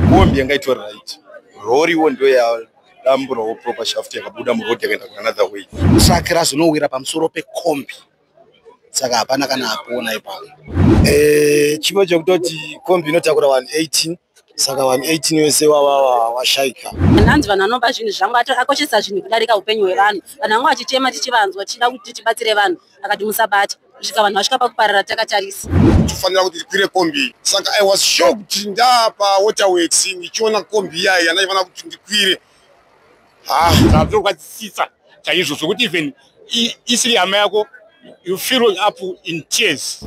Mombi yanga itori right. Rori wo ndio ya dambura wo proper shaft yakabuda mu road yakaenda ku another way. Saka razonowira pamusoro pe kombi. Saka hapana kana apona ipapo. Eh, chimwe chekutoti kombi inotakura 118 saka 118 wese wavawa washaika hanzi vanhu vanoba zvinhu zvangu akoshesa zvinhu kudarika upenyu hwevanhu vanhu vanga vachitema tichivanzwa tichida kuti tibatsire vanhu akati musabata kusvika vanhu vasvika pakuparara takatarisa tofanira kuti tikwire kombi saka i was shocked ndapa waterworks ndichiona kombi iyayi yandaifanira kuti ndikwire ha zvazokwadzisisa chaizvo zvokuti even isiri hama yako you feel up in tears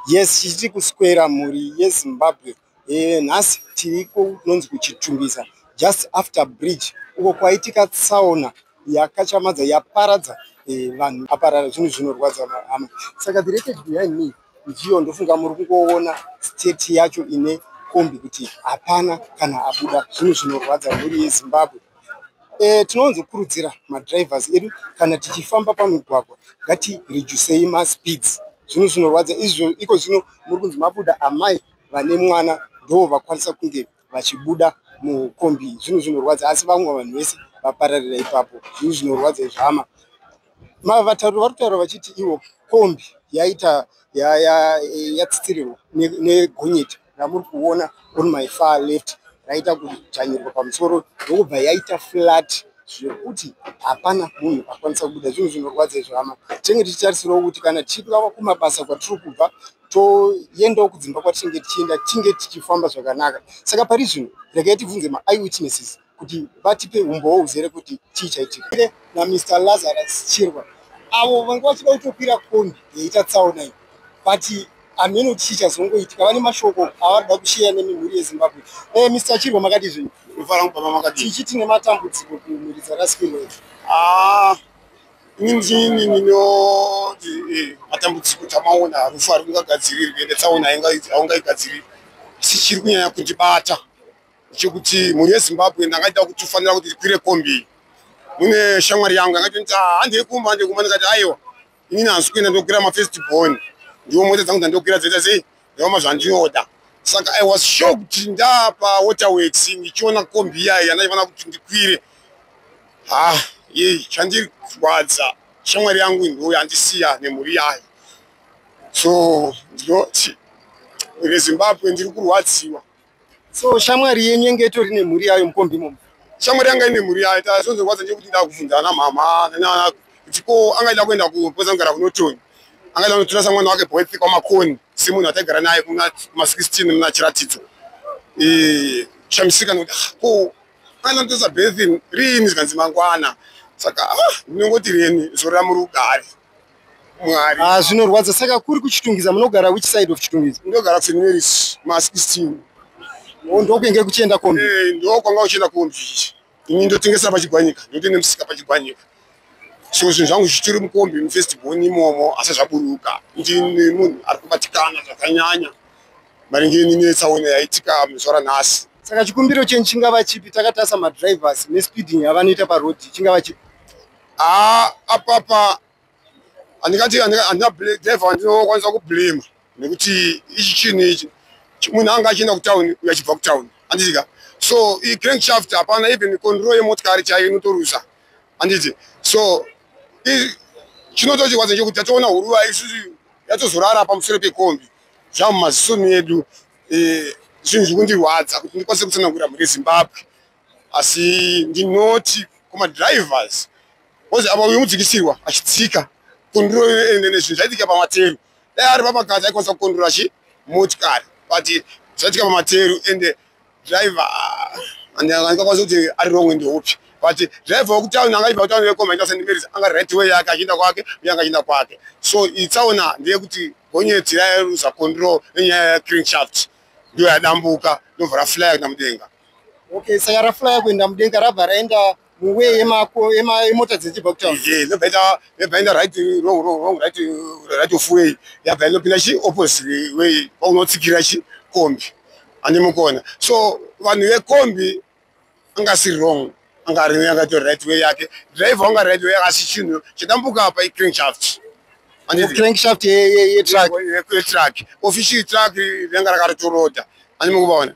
yes chichiri kuswera mhuri yezimbabwe eh, nhasi tiri kunonzi kuchitumbisa just after bridge uko kwaitika tsaona yakachamadza yaparadza eh, vanhu aparara zvinhu zvinorwadza hama saka the record behind me ndiyo ndofunga muri kungoona state yacho ine kombi kuti hapana kana abuda zvinhu zvinorwadza mhuri yezimbabwe e, tinowanzokurudzira madrivers edu kana tichifamba pamigwagwa ngatirejusei maspeeds zvinhu zvinorwadza izvo iko zvino muri kunzi mabuda amai vane mwana ndo vakwanisa kunge vachibuda mukombi zvinhu zvinorwadza asi vamwe vanhu vese vapararira ipapo zvinhu zvinorwadza izvama vatauri vari kutaura vachiti ivo kombi yaita yatsitsirirwa negonyeti ramuri kuona on my far left raita kudzvanyirwa pamusoro ndokubva yaita flat zvekuti hapana munhu akwanisa kubuda zvinhu zvinorwadza izvama tinenge tichitarisirawo kuti kana tichingava kumabasa kwatiri kubva toendawo kudzimba kwatinenge tichienda tinge tichifamba zvakanaka saka pari zvino regai tibvunze maeyewitnesses kuti vatipe umbowo uzere kuti chii chaitika namr lazarus chirwa avo vanga vachida kutokwira kombi yaita tsaona iyi but hameno kuti chii chazongoitika vane mashoko avari da kusheya nemimhuri yezimbabwe e eh, mr chirwa makati zvino tichiti nematambudziko kumhuri dzarasikirwa idzi ah, Injini inoti eh, matambudziko tamaona harufu ari kungagadzirirwe ende tsaona haungaigadziriri asi chiri kunyanya kundibata chekuti mhuri yezimbabwe ndangaita kuti ufanira kuti ndikwire kombi mune shamwari yangu yangati nti ah, handei kumba handei kumba ndikati aiwa inini hanzi kuenda ndokwira mafirst born ndiwo mota dzangu dzandokwira dzoita sei ndooma zvandinoda saka i was shocked ndaapa waterworks ndichiona kombi iyayi yandaifanira kuti ndikwire ha ah, yei chandirwadza shamwari yangu ndo yandisiya nemhuri yayo so ndinoti rezimbabwe ndiri kurwadziwa so shamwari yenyu yenge itori nemhuri yayo mukombi imomo shamwari yanga ine mhuri yayo tazonzorwadza nje kuti ndaa kubvunza ana mhama nanana kuti ko angaida kuenda kupoza kugara kunotoni angaida kunotorasa mwana wake boyfi kwamakoni semunhu ataigara naye kuma16 muna chiratidzo e, shamisika nokuti ah, ko angaida kunotorasa bethin riini zvikanzi mangwana saka ah, ndinongoti reni zorira muri ugari mwari ah, zvinorwadza saka kuri kuchitungiza munogara which side of chitungiza ndogara kuseneris mas eastin oh, ndokuenge kuchienda kombi eh, ndokwanga uchienda kombi ini ndotengesa pachigwanyika ndotenge musika pachigwanyika so zvinhu zvangu zvichiri mukombi mufestival imomo asi zvaburuka ndine munhu ari kubatikana zvakanyanya maringe ninetsaona yaitika muzuva ranhasi saka chikumbiro chenyu chingava chipi takatarisa madrivers nespeeding avanoita parodi chingava chipi haa apapa handingati handina driver wandinokwanisa kublema nekuti ichi chinhu ichi munhu anga achienda kutown uyo achibva kutown handidika so icrank shaft hapana even control yemotikari chaiyo inotorusa handiti so chinotochirwadza chekuti tatoona huruva isusu yatozorara pamusoro pekombi zvamumaziso medu e, zvinhu zvikundirwadza kuti ndikwanise kutsanangura mhuri yezimbabwe asi ndinoti kumadrivers bcause apa uyu mudzikisirwa achitsika konduro nezvinhu zvaitika pamateru dai ari pamakadzi aikwanisa kukondura achi motikari but zvaitika pamateru ende driver andikakwanisa kuti ari wrong ndeupi but driver wekutown angaiva kutown yekomaita sendimerisa anga right way yake achienda kwake uye anga achienda kwake so itsaona ndeyekuti gonyeti rairuza control nenyaya yecreenshaft ndiyo yadambuka ndobva raflaya kuenda mudenga okay saka raflaya kuenda mudenga rabva raenda muwe yemako yemota dzechibva kutaun ye ndobva ita yabva yaenda right wrong wrong wrong right right of way yabva inopinda chi opposite way kwaunotsikira chi kombi ane mukona so vanhu vekombi anga si wrong anga ari anga to right way yake driver anga right way asi chinhu chidambuka apa i crank shaft andi crank shaft ye ye ye truck ye truck official truck yanga rakatoroda ane mukuvaona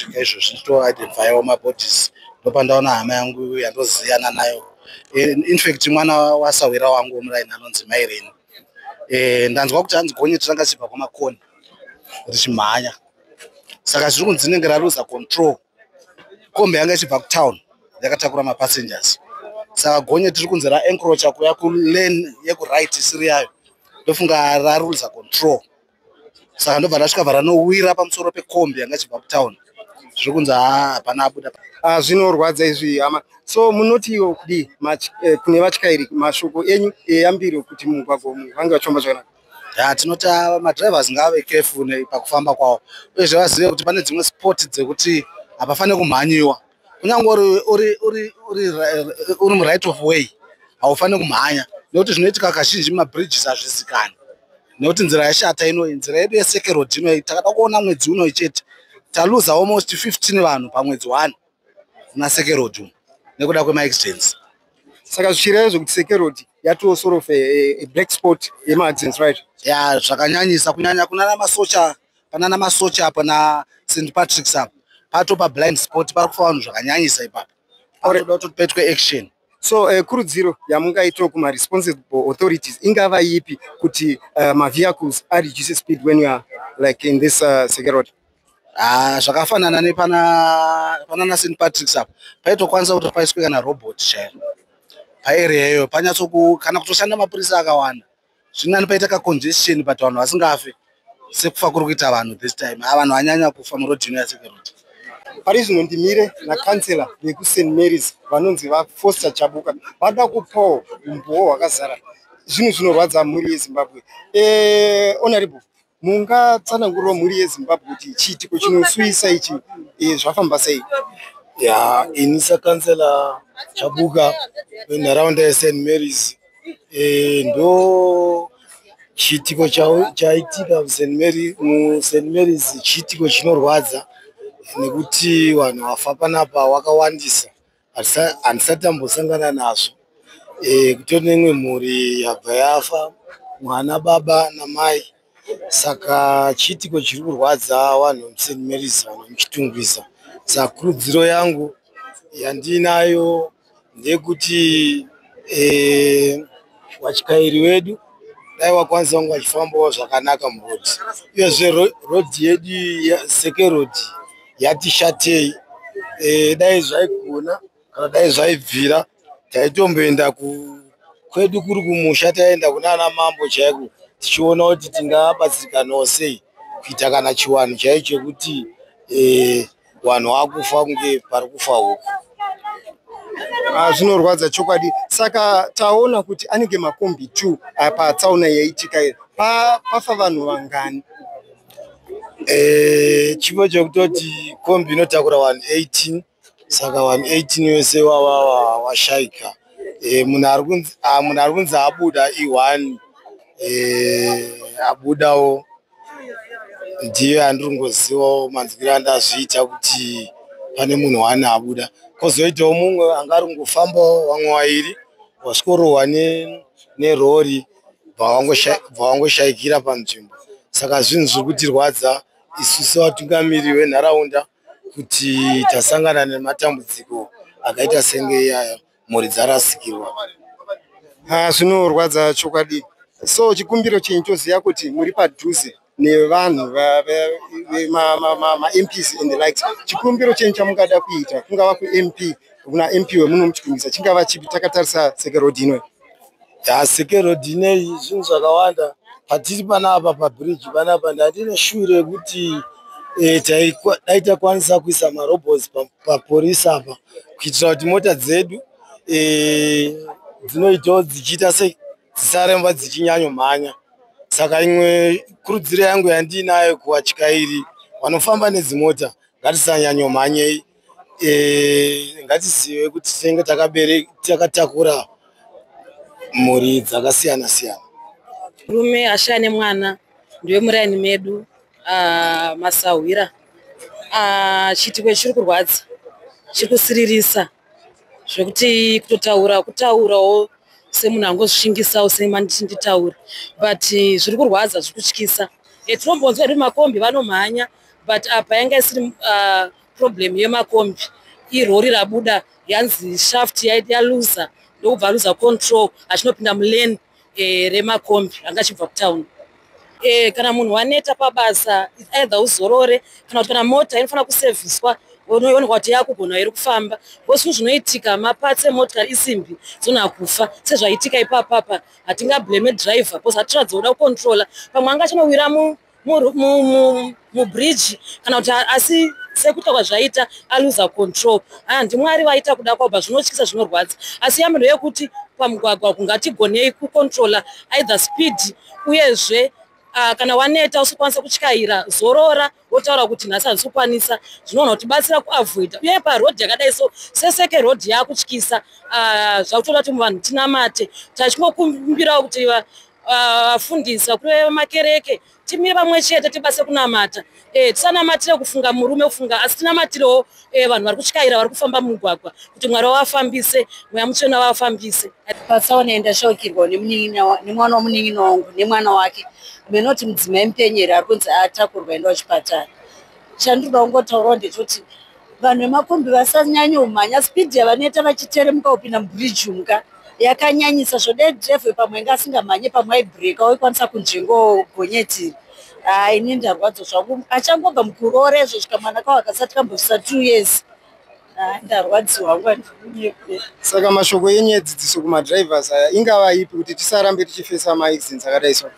kusvika izvo zvichito identifyawo mabodies ndopandaona hama yangu yandoziyana nayo eh, infact mwana wasahwira wangu womuraini anonzi maireni eh, ndanzwa kuti hanzi gonye tiranga chibva kwamakoni richimhanya saka zviri kunzi inenge raruza control kombi yanga ichibva kutown yakatakura mapassengers saka gonye tiri kunzi raencrocha kuya kulane yekuright isiri yayo ndofunga raruza control saka ndobva ndasvika varanowira pamusoro pekombi yanga chibva kutown zviri kunzi hapana abuda ah, zvinorwadza izvi hama so munotiwo kudii eh, kune vatyairi mashoko enyu eyambiro eh, kuti mumugwagwa umu vange vachifamba zvakanaka ya tinoti ah, madrivers ngaave careful pakufamba kwavo uyezve vazive kuti pane dzimwe sport dzekuti hapafanire kumhanyiwa kunyange uri muright of way haufaniri kumhanya nekuti zvinoitika kazhinji mabridges hazvizikani nekuti nzira yashata inoyi nzira yedu yesekerod inoyi takada kuona mwedzi unoyi chete taluza almost 15 vanhu pamwedzi one kuna sekerod umu nekuda kwemaaccidents saka zvichireva zvekuti sekerod yatoo sort of a, a black spot yemaaccidents right ya zvakanyanyisa kunyanya kunana masocha panana masocha apa na st patricks apa pato pa blind sport pari kufa vanhu zvakanyanyisa ipapo anoda kuti petwe action so uh, kurudziro yamungaitawo kumaresponsible authorities ingava ipi kuti uh, mavehicles areduce speed when you are like in this uh, security Ah, zvakafanana nepana panana st patricks apa paitokwanisa kuti paiswe kana robot chaiyo paarea iyoyo panyatsoku kana kutoshanda mapurisa akawanda zvinani paita ka congestion but vanhu vasingafe sekufa kuri kuita vanhu this time a vanhu vanyanya kufa muroad ino yaseke road pari zvino ndimire nacancellor vekust marys vanonzi vafoster chabuka vada kupawo umbowo hwakazara zvinhu zvinorwadza mhuri yezimbabwe eh, honorable Mungatsanangurira mhuri yeZimbabwe kuti chiitiko chinosuwisa ichi eh, zvafamba sei? Ya, ini sakansela Chabuka venharaunda yeSt Mary's eh, ndo chiitiko chaitika muSt Mary muSt Mary's chiitiko chinorwadza nekuti vanhu vafa panapa wakawandisa. handisati ambosangana nazvo e, kutori neimwe mhuri yabva yafa mwana baba namai saka chiitiko chiri kurwadza vanhu musen marys vanhu muchitungwiza saka kurudziro yangu yandiinayo ndeyekuti e, watyairi wedu dai wakwanisa vanga vachifambawo zvakanaka murodi uyezve rodhi yedu seke rodhi yatishatei e, dai zvaigona kana dai zvaibvira taitomboenda ku kwedu kuri kumusha taenda kuna ana mambo chaiko tichiona kuti tingabatsirikanawo sei kuita kana chiwanhu chaicho chekuti e, wanhu wakufa kunge pari kufa huku Ah, zvinorwadza chokwadi saka taona kuti anenge makombi two ah, patsaona yaitika pafa vanhu vangani Eh, chipo chokutoti kombi inotakura 118 saka 118 wese wava washaika eh, munhu ari kunzi ah, munhu ari kunzi abuda i1 eh, abudawo ndiyo andiri kungozivawo manzwiro andazviita kuti pane munhu wani abuda kozoitawo mumwe anga ari kungofambawo vamwe wairi wasvikorohwa nerori ne bvawangoshaikira panzvimbo saka zvinhu zviri kutirwadza isu sevatungamiri venharaunda kuti tasangana nematambudziko akaita senge iyaya mhuri dzarasikirwa ah, zvinorwadza chokwadi so chikumbiro chenyu toziva kuti muri padhuze nevanhu mamps and the likes chikumbiro chenyu chamungada kuita kungava kump kuna mp wemunomuchikumbisa chingava chipi takatarisa seke road inoyi ya seke road ineyi zvinhu zvakawanda patiri pana apa pabridge pana apa ndandine shuu rekuti eh, dai takwanisa kuisa marobos paporisi apa kuitira kuti mota dzedu eh, dzinoitawo dzichiita sei dzisaremba dzichinyanyomhanya saka imwe kurudziro yangu yandiinayo kuvatyairi vanofamba nedzimota ngatisanyanyomhanyei e, ngatizive kuti tinenge takatakura mhuri dzakasiyana siyana rume ashaya nemwana ndiwe muraini medu ah, masahwira ah, chiitiko chiri kurwadza chiri kusiririsa zvekuti kutotaura kutaurawo semunhu angozvishingisawo semanditinditaura but eh, zviri kurwadza zviri kutyisa eh, tinombonzwa ri makombi vanomhanya but apa yanga isiri ah, problem yemakombi irori rabuda yanzi shaft yaloser ndokubva aluza control achinopinda mulane e, remakombi anga achibva kutown e, kana munhu waneta pabasa either uzorore kana kuti kana mota inofanira kuseviswa unooneka kuti yakugona here kufamba bcause zvinhu zvinoitika mapatsi emotikari isimbi dzona kufa sezvaitika ipapapa hatingablame driver bcause hatiratidza kuda kucontrola pamwe anga achinowira mubridge kana kuti asi sekuita kwazvaita aluza control haa ndimwari vaita kuda kwabva zvinotyisa zvinorwadza asi yamiro yekuti pamugwagwa kungatigonei kucontrola either speed uyezve uh, kana waneta usikwanisa kutyaira zorora wotaura kuti nhasi handisi kukwanisa zvinoona kuti batsira kuavoida uye parodhi yakadai so seseke rodhi yakutyisa uh, ah, zvakutoda kuti muvanhu tinamate tachingokumbirawo kuti vafundisi ah, vakuru vemakereke timire pamwe chete tibase kunamata eh, tisanamatire kufunga murume kufunga asi tinamatirewo eh, vanhu vari kutyaira vari kufamba mumugwagwa kuti mwari wavafambise mweya mutsvena wavafambise patsaona ndashaukirwa nemwana wamunin'ina wangu nemwana wake menoti mudzimai mupenyeri ari kunzi atakurwa enda wachipatara chandinoda kungotaurawo ndechoti vanhu vemakombi vasanyanye umhanya speed yavanoita vachiteremuka kupinda mubridge umka yakanyanyisa zvode drive pamwe inga asingamhanye pamwe aibreaka waikwanisa kunzvengo gonyetiri haa ini ndarwadzo zvangu achangobva mukuroora izvo svika mwana kawo akasati kambosvisa two years saka mashoko enyu edzidziso kumadrivers aya ingava ipi kuti tisarambe tichifesa maaccidents akadai so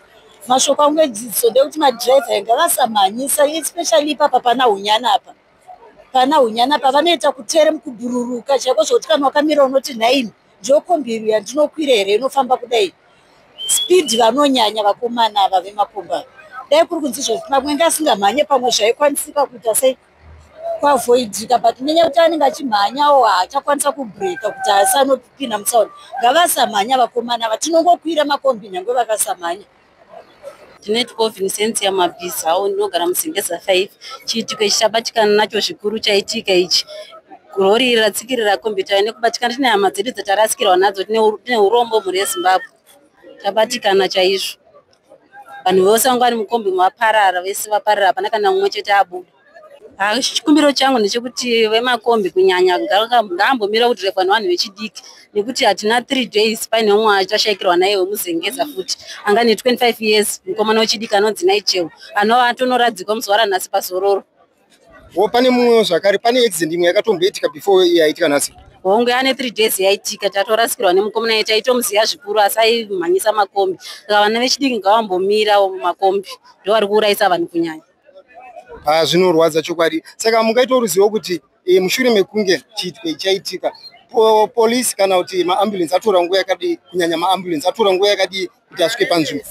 mashoko angu edzidziso ndekuti madriver inga vasamhanyisa especially ipapa pana unyana apa pana hunyana pavanoita kutere mukubhururuka chaiko zvokuti kana wakamira unoti nhaini ndokombiru yandinokwira here inofamba kudai speed vanonyanya vakomana ava vemakomba dai kuri kunzi izvozvi pamwe nga asingamhanye pamwe zvaikwanisika kuita sei kuavoidika but nenyaya yekuti anenge achimhanyawo haachakwanisa kubreka kuti asanopinda mutsaona ngavasamhanya vakomana ava tinongokwira makombi nyange vakasamhanya Ndinetiko Vincentia Mabhizawo ndinogara muZimbeza 5. Chiitiko ichi chabatikana nacho zvikuru chaitika ichi rori iri ratsikirira kombiyuta nekubatikana tine hama dzedu dzatarasikirwa nadzo tine urombo mhuri yezimbabwe tabatikana chaizvo vanhu vose vanga vari mukombi maparara vese vaparara hapana kana mumwe chete abuda Ah, chikumbiro changu ndechekuti vemakombi kunyanya ngaambomira kudhirevha nevanhu vechidiki nekuti hatina three days paine umwe achashayikirwa naye wemuzengeza futi anga ne 25 years mukomana wechidiki anonzi naicheo anova atonoradzikwa muzuva ranhasi pazororo wo pane mumwewo zvakare pane accident imwe yakatomboitika before yaitika nhasi hongu ane three days yaitika tatorasikirwa nemukomana ye taitomuziva zvikuru asi aimhanyisa makombi saka vana vechidiki ngavambomirawo makombi ndovari kuurayisa vanhu kunyanya Ah, zvinorwadza chokwadi saka mungaitawo ruzivo kuti eh, mushure mekunge chiitwe chaitika polisi kana kuti maambulensi atora nguva yakadii kunyanya maambulensi atora nguva yakadii kuti asvike panzvimbo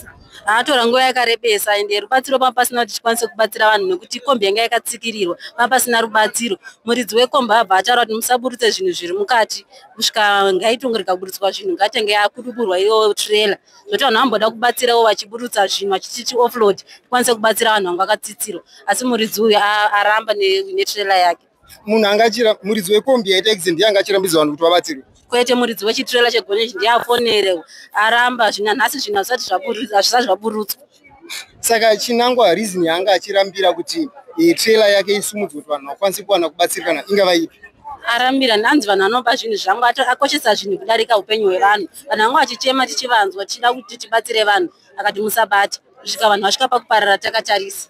atora nguva yakarebesa ende rubatsiro panga pasina kuti tikwanise kubatsira vanhu nekuti kombi yanga yakatsikirirwa panga pasina rubatsiro muridzi wekombi abva ataura kuti musaburutse zvinhu zviri mukati kusvika ngaitongorega kuburitswa zvinhu ngaitenge akuduburwa iyo trailer zvoti vanhu vamboda kubatsirawo vachiburutsa zvinhu vachititi offload tikwanise kubatsira vanhu vanga vakatsitsirwa asi muridzi uyu aramba netrela yake munhu angachira muridzi wekombi yaita accident yanga achirambidza vanhu kuti vabatsirwe kwete muridzi wechitrela chegoneji ndiye afonerewo aramba zvina nhasi zvinhu hazvisati zvaburutswa saka chinangwa reason yaanga achirambira kuti eh, trailer yake isimudzwe kuti vanhu vakwanise kuwana kubatsirikana ingava ipi arambira ndanzi vanhu vanoba zvinhu zvangu akoshesa zvinhu kudarika upenyu hwevanhu vanhu vanga vachichema tichivanzwa tichida kuti tibatsire vanhu akati musabata kusvika vanhu vasvika pakuparara takatarisa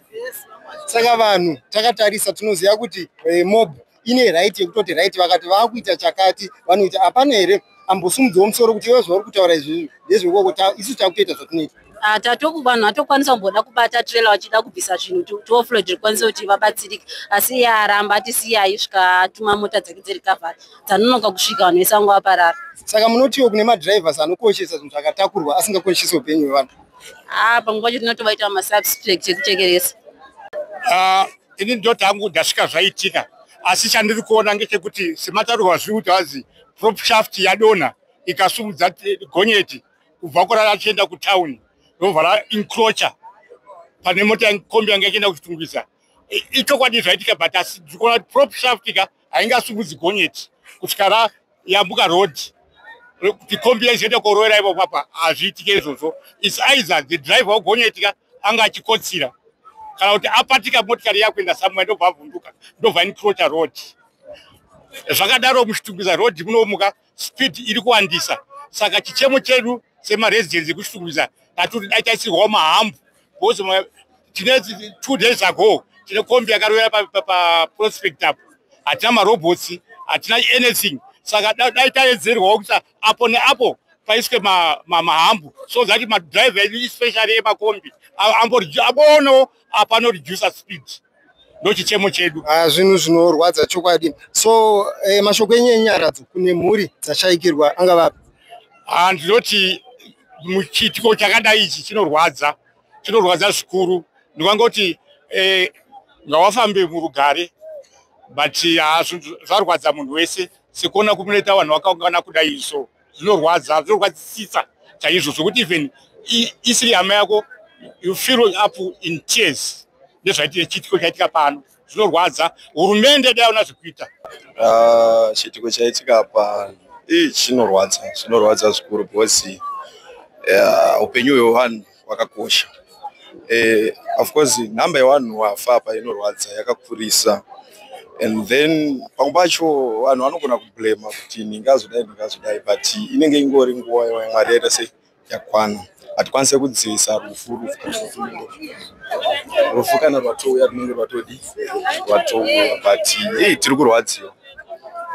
saka vanhu takatarisa tinoziva kuti eh, mob ine right yekutoti right vakati vakuita chakati vanoita hapana here ambosumudzawo musoro kuti iwe zvauri kutaura izvi ndezvekoko isu takutoita zvatinoita ah, tatoku vanhu vatokwanisa kumboda kubata trailer vachida kubvisa zvinhu tioflod rikwanisa kuti vabatsirike asi iye aramba ati siyai svika atuma mota dzake dzerikavhara dzanonoka kusvika vanhu vese vangu vaparara saka munotiwo kune madrivers anokoshesa zvinhu zvakatakurwa asingakoshesi upenyu hwevanhu ah, pamwe pacho tinotovaita masubstract ekuchekeresa ah, ini ndoti hangu ndasvika zvaitika asi chandiri kuona ngechekuti semataurwa zviri kuti hanzi prop shaft yadonha ikasumudza gonyeti kubva kurara achienda kutown robva raincrocha pane mota kombi yanga ichienda kuchitungwiza ichokwadi zvaitika but asi ndiri kuona kuti prop shaft ka haingasumudzi gonyeti kusvika rayambuka road kuti kombi yaizoenda koroera ivo papa hazviitike izvozvo its either the driver wegonyeti ka anga achikotsira kana kuti apatika motikari yakuenda samwe ndobva avhunduka ndobva incrocha road zvakadaro muchitungiza road munomuka speed iri kuwandisa saka chichemo chedu semaresidents ekushungurisa tatoti dai taisirwawo mahambu bcause tine two days ago tine kombi yakarovera paprospect apo hatina marobots hatina anything saka dai taedzerwawo kuti apo neapo paiswe mahambu so that madriver edu especially emakombi amboona apanoreducer speed ndochichemo chedu ah, zvinhu zvinorwadza chokwadi so eh, mashoko enyu enyaradzo kune mhuri dzashaikirwa angavapi ah, ndinoti muchiitiko chakadai ichi chinorwadza chinorwadza zvikuru ndikangoti eh, ngawafambe murugare but ah, zvarwadza munhu wese sekuona kunoita vanhu vakaungana kudai so zvinorwadza zvinorwadzisisa chaizvo zvokuti even isiri hama yako you feel up in tears nezvaitire chiitiko chaitika pano zvinorwadza hurumende dai ona zvekuita ah, chiitiko chaitika pano ii chinorwadza zvinorwadza zvikuru because upenyu hwevanhu wakakosha eh, of course nhamba yevanhu wafa apa inorwadza yakakurisa and then pamwe pacho vanhu vanogona kublema kuti ndingazodai ndingazodai but inenge ingori nguva yamwari yaita sei yakwana hatikwanise kudzivisa rufu rufu rufu kana rwatouya runenge rwatodi rwatouya but hei tiri kurwadziwa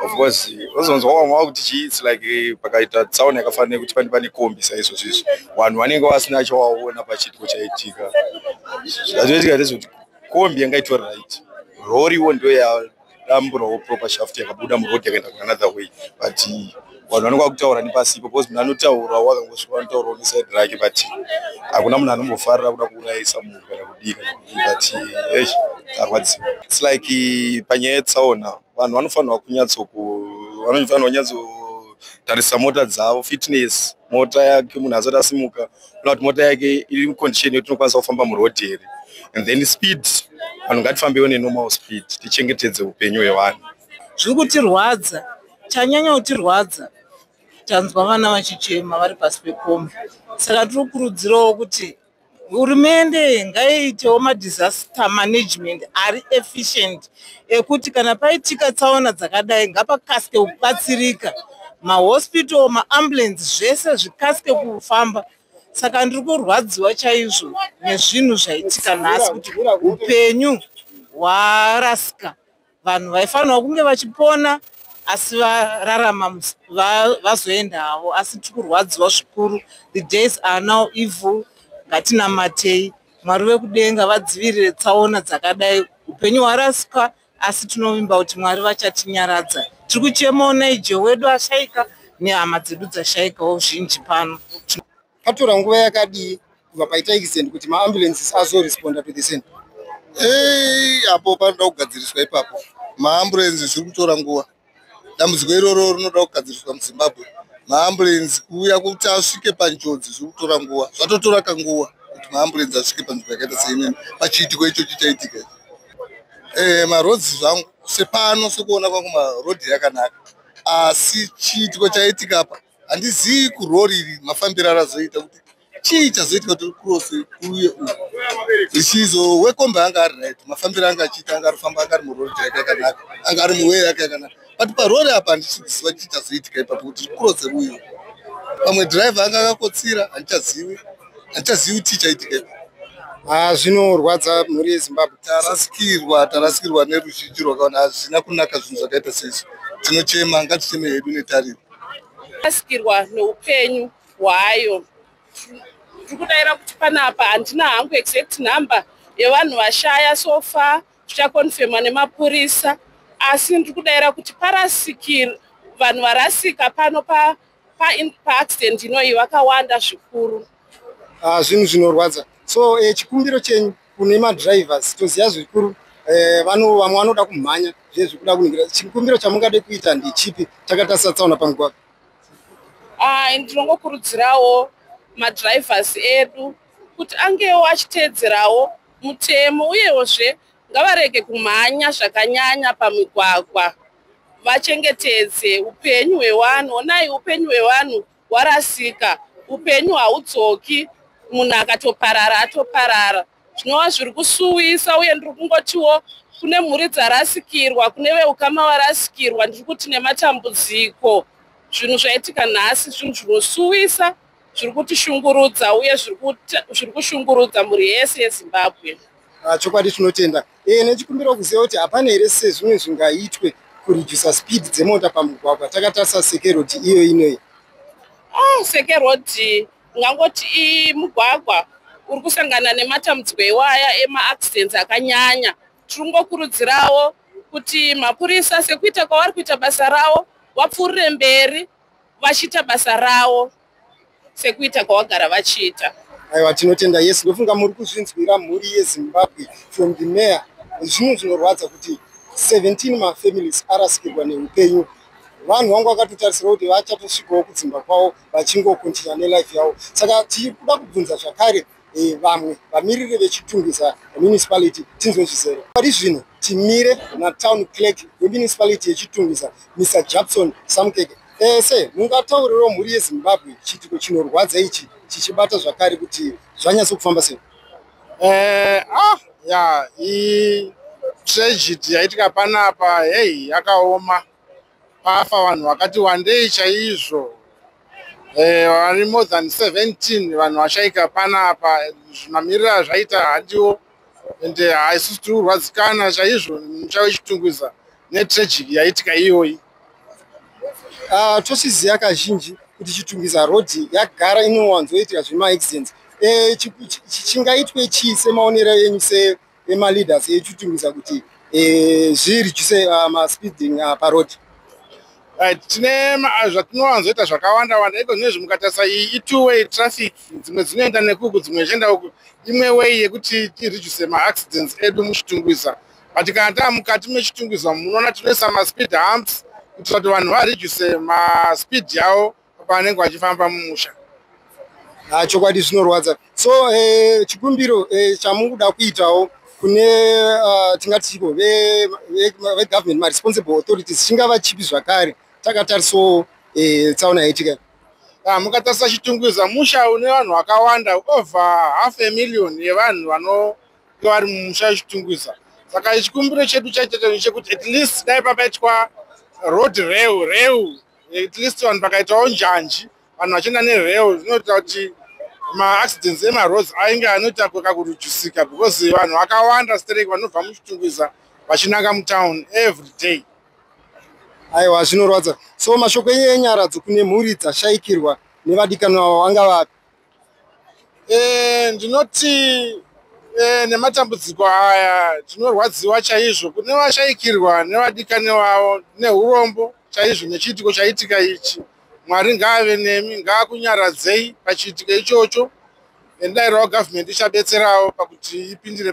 of course ozonzwa vamwe vakuti chii its like eh, pakaita tsaona yakafanira nekuti pane pane kombi saizvo zvizvi vanhu vanenge vasina chawaona pachiitiko chaitika zvazvinoitika ndezvekuti kombi yanga itori right roriwo ndoyadamburawo proper shaft yakabuda muroad yakaenda kuanother way but vanhu vanoka kutaura nepasipo because munhu anotaura wakangosvika vanotaurawo nesaidi rake but hakuna munhu anombofarira kuda kuurayisa munhu kana kudii kana kudii but esh arwadziwa its like eh, panyaya yetsaona vanhu vanofanirwa kunyatsokuvanofana kunyatsotarisa mota dzavo fitness mota yake munhu asati asimuka ona kuti mota yake iri mucondition yekuti inokwanisa kufamba muroad here and then speed vanhu ngatifambewo nenormal speed tichengetedze upenyu hwevanhu zviri kutirwadza chanyanya kutirwadza tanzwa vana vachichema vari pasi pekombi saka tiri kukurudzirawo kuti hurumende ngaiitewo madisaster management ari efficient ekuti kana paitika tsaona dzakadai ngapakasike kubatsirika mahospital maambulance zvese zvikasike kufamba saka ndiri kurwadziwa chaizvo nezvinhu zvaitika nhasi kuti upenyu hwarasika vanhu vaifanirwa kunge vachipona asi vararama vazoenda havo asi tiri kurwadziwa zvikuru the days are now evil ngatinamatei mwari vekudenga vadzivirire tsaona dzakadai upenyu hwarasika asi tinovimba kuti mwari vachatinyaradza tiri kuchemawo naijo wedu ashaika nehama dzedu dzashaikawo zhinji pano Patora nguva yakadii kubva paita accident kuti maambulances azoresponda to the scene? Hey, apo panoda kugadziriswa ipapo. Maambulances zviri kutora nguva. Dambudziko iroro rinoda kugadziriswa muZimbabwe. Maambulances kuuya kuti asvike panjodzi zviri kutora nguva. Zvatotora kanguva kuti maambulances asvike panzvimbo yakaita seinini pachiitiko icho chichaitika icho. Eh, maroads zvangu sepano sekuona kwangu maroad yakanaka asi chiitiko chaitika apa handizivi kurori iri mafambiro arazoita kuti chii chazoitika tiri kurose uye u zvichizo wekombe anga ari right mafambiro anga achiita anga arifamba anga ari murori chaika yakanaka anga ari muwee yake yakanaka but parori apa handichiziva chii chazoitika ipapo kuti tiri kurose uye pamwe driver anga akakotsira handichazivi handichazivi chii chaitika ipapo Ah, zvinorwadza mhuri yezimbabwe tarasikirwa tarasikirwa neruzhinji rwakaona hazvina kunaka zvinhu zvakaita seizvi tinochema ngaticheme hedu netariro rasikirwa neupenyu hwayo tiri kudaira kuti panapa handina hangu exact number yevanhu vashaya so far zvichakonfemwa nemapurisa asi ndiri kudaira kuti parasikir vanhu varasika pano paaccident pa, pa inoyi vakawanda zvikuru ah, zvinhu zvinorwadza so eh, chikumbiro chenyu kune madrivers toziva zvikuru eh, vamwe vanoda kumhanya zviye zvikuda kuningira chikumbiro chamungade kuita ndechipi chakatarisa tsaona pamugwagwa ah, ndinongokurudzirawo madrivers edu kuti angewo achiteedzerawo mutemo uyewo zve ngavarege kumhanya zvakanyanya pamigwagwa vachengetedze upenyu hwevanhu onai upenyu hwevanhu warasika upenyu haudzoki munhu akatoparara atoparara zvinova zviri kusuwisa uye ndiri kungotiwo kune mhuri dzarasikirwa kune veukama varasikirwa ndiri kuti nematambudziko zvinhu zvaitika nhasi zvinhu zvinosuwisa zviri kutishungurudza uye zviri kushungurudza mhuri yese yezimbabwe ah, chokwadi tinotenda e, nechikumbira kuziva kuti hapana here sezvimwe zvingaitwe kuredusa speed dzemota pamugwagwa takatarisa seke road iyo inoyi oh, seke road ungangoti imugwagwa uri kusangana nematambudziko iwaya emaaccidents akanyanya tiri kungokurudzirawo kuti mapurisa sekuita kwavari kuita basa ravo vapfuurire mberi vachiita basa ravo sekuita kwavagara vachiita aiwa tinotenda yes ndofunga muri kuzvinzwira mhuri yezimbabwe from the mayor zvinhu zvinorwadza kuti 17 mafamilies arasikirwa neupenyu vanhu vangu vakatotarisira kuti vachatosvikawo kudzimba kwavo vachingokontinya nelife yavo saka tiri kuda kubvunza zvakare e, vamwe vamiriri vechitungwiza municipality tinzwe zvizere pari zvino timire natown clerk wemunicipality yechitungwiza mr jabson samkeke ese eh, mungataurirawo mhuri yezimbabwe chiitiko chinorwadza ichi chichibata zvakare kuti zvanyatso kufamba sei eh, ah, ya tragedy yaitika panapa hei yakaoma Pafa vanhu vakati wandei chaizvo eh, vari more than 17 vanhu vashaika panapa zvimamiriro azvaita handiwo and eh, haisusu tiri kurwadzikana chaizvo mucha wechitungwiza netragic yaitika iyoyi ah, tosiziva kazhinji kuti chitungwiza road yagara inowanzoitika zvemaaccidents eh, chingaitwe chii semaonero enyu se emaleaders echitiudza kuti eh, zviridyise ah, maspeeding ah, paroad eh, tine zvatinowanzoita zvakawanda wanda iko zvinezvi mukatarisa iyi itwo way traffic dzimwe dzinoenda nekuku dzimwe ichienda uku imwe way yekuti tireduce maaccidents edu muchitungwiza but kana taa mukati mechitungwiza munoona tinoisa maspeed humps kuitira kuti vanhu vareduce maspeed yavo paanenge vachifamba mumusha ah, chokwadi zvinorwadza so eh, chikumbiro eh, chamuri kuda kuitawo kune ah, tingati chiko vegovernment maresponsible authorities chingava chipi zvakare takatarisawo eh, tsaona yaitika ah, mukatarisa chitungwiza musha une vanhu vakawanda over half a million yevanhu vanonge vari mumusha chitungwiza saka chikumbiro chedu chaitata chekuti at least dai papaitwa road reu reu at least vanhu pakaitawo njanji vanhu vachienda nereo zvinoita kuti maaccidents emaroads ainge anoita kakurujusika because vanhu vakawanda sterek vanobva muchitungwiza vachinanga mutown every day aiwa zvinorwadza so mashoko enyu enyaradzo kune mhuri dzashaikirwa nevadikanwa vavo anga vapi Eh, ndinoti eh, nematambudziko aya tinorwadziwa chaizvo kune vashaikirwa nevadikani vavo neurombo chaizvo nechiitiko chaitika ichi mwari ngaave nemi ngaakunyaradzei pachiitiko ichocho endairawo gavhmendi ichabetserawo pakuti ipindire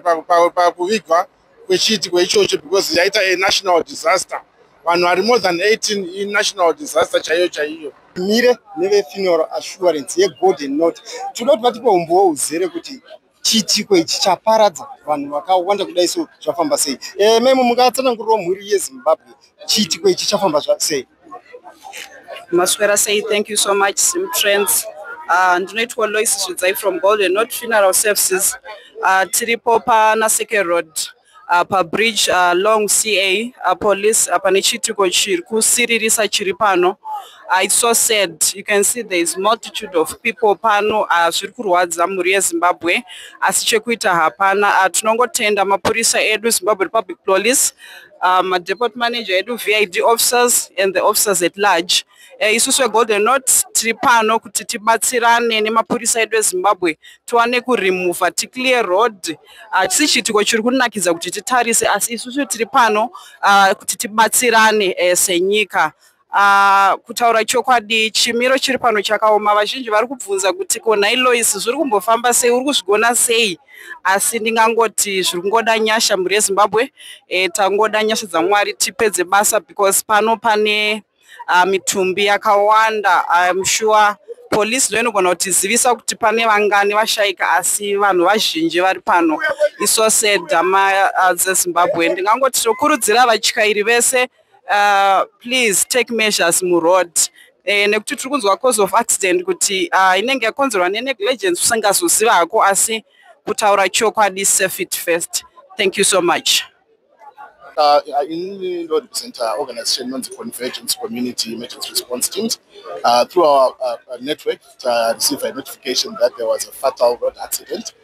pakuvigwa kwechiitiko ichocho because yaita a national disaster vanhu vari more than 18 inational disaster chaiyo chaiyo mire nevefuneral assurance yegolden note tinoda kuti vatipa umbowo uzere kuti chiitiko ichi chaparadza vanhu vakawanda kudai so zvafamba sei e, memo mungatsanangurirawo mhuri yezimbabwe chiitiko ichi chafamba sei maswera sei thank you so much sim trends uh, ndinoitwa lois zvidzai from golden not funeral services uh, tiripo pana seke road uh, pabridge uh, long ca uh, police uh, pane chiitiko chiri kusiririsa chiri pano uh, its so sad you can see there is multitude of people pano uh, zviri kurwadza mhuri yezimbabwe asi chekuita hapana uh, tinongotenda mapurisa edu zimbabwe republic police uh, madepot manager edu vid officers and the officers at large uh, eh, isusu vegolden not tiri pano kuti tibatsirane nemapurisa edu ezimbabwe tiwane kuremover ticlear road hatisi ah, uh, chiitiko chiri kunakidza kuti titarise asi isusu tiri pano uh, kuti tibatsirane uh, senyika Uh, kutaura chokwadi chimiro chiri pano chakaoma vazhinji vari kubvunza kuti ko nhai lois zviri kumbofamba sei uri kuzvigona sei asi ndingangoti zviri kungoda nyasha mhuri yezimbabwe e, tangoda nyasha dzamwari tipedze basa because pano pane uh, mitumbi yakawanda im sure police ndo inogona kutizivisa kuti pane vangani vashaika asi vanhu vazhinji vari pano iso sedhama uh, dzezimbabwe ndingangoti tokurudzira vatyairi vese uh, please take measures muroad eh, nekuti tiri kunzwa cause of accident kuti uh, inenge yakonzerwa nenegligence usingazoziva hako asi kutaura chokwadi safe it first thank you so much Uh, uh, in the road center uh, organization on the convergence community emergency response teams uh, through our uh, uh network uh, received a notification that there was a fatal road accident uh,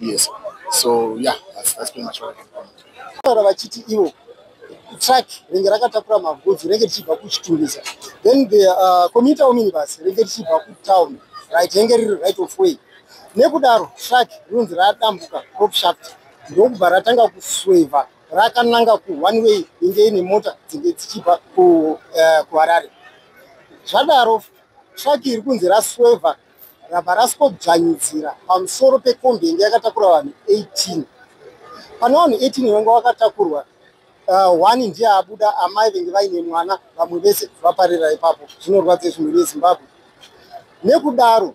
yes so yeah that's, that's pretty much what taura vachiti ivo truck ringe rakatakura magodzi ringe richibva kuchitungisa then the uh, commuter ominibus ringe richibva kutown right ringe riri right of way nekudaro truck rinonzi radambuka crop shaft ndokubva ratanga kusweva rakananga kuone way inge ine mota dzinge dzichibva uh, kuharare zvadaro truck iri kunzi rasweva rabva rasikodzvanyidzira pamusoro pekombi yenge yakatakura vanhu 18 pane vanhu 18 vanga vakatakurwa uh, one ndiye abuda amai venge vaine mwana vamwe vese vaparira ipapo zvinorwadza izvi mhuri yezimbabwe nekudaro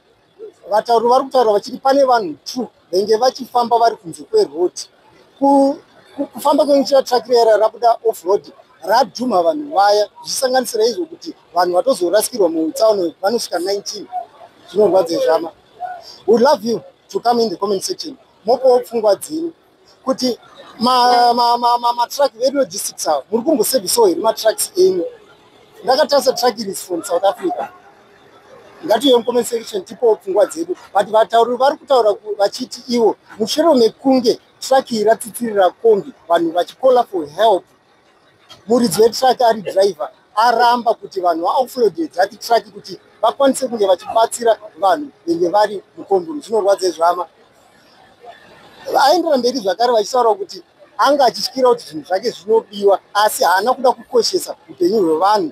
vatauri vari kutaura vachiti pane vanhu two venge vachifamba vari kunze kweroad kufamba kwekuchira truck rera rabuda off road radhumha vanhu vaya zvichisanganisira izvo kuti vanhu vatozorasikirwa mutsaono vanosvika 19 zvinorwadza zvama we love you to come in the comment section mopowo pfungwa dzenyu kuti matruck vedu logistics avo muri kumbosevisawo here matrucks enyu ndakatarisa truck iri from south africa ngatiuye mucomment section tipowo pfungwa dzedu but vatauri vari kutaura vachiti ivo mushure mekunge traki iyi ratsitsirira kombi vanhu vachikola for help muridzi wetraki ari driver aramba kuti vanhu vaoffloade dzati traki kuti vakwanise kunge vachibatsira vanhu venge vari mukombuni zvinorwadza izvama aendera mberi zvakare vachitaura kuti anga achityira kuti zvinhu zvake zvinobiwa asi haana kuda kukoshesa upenyu hwevanhu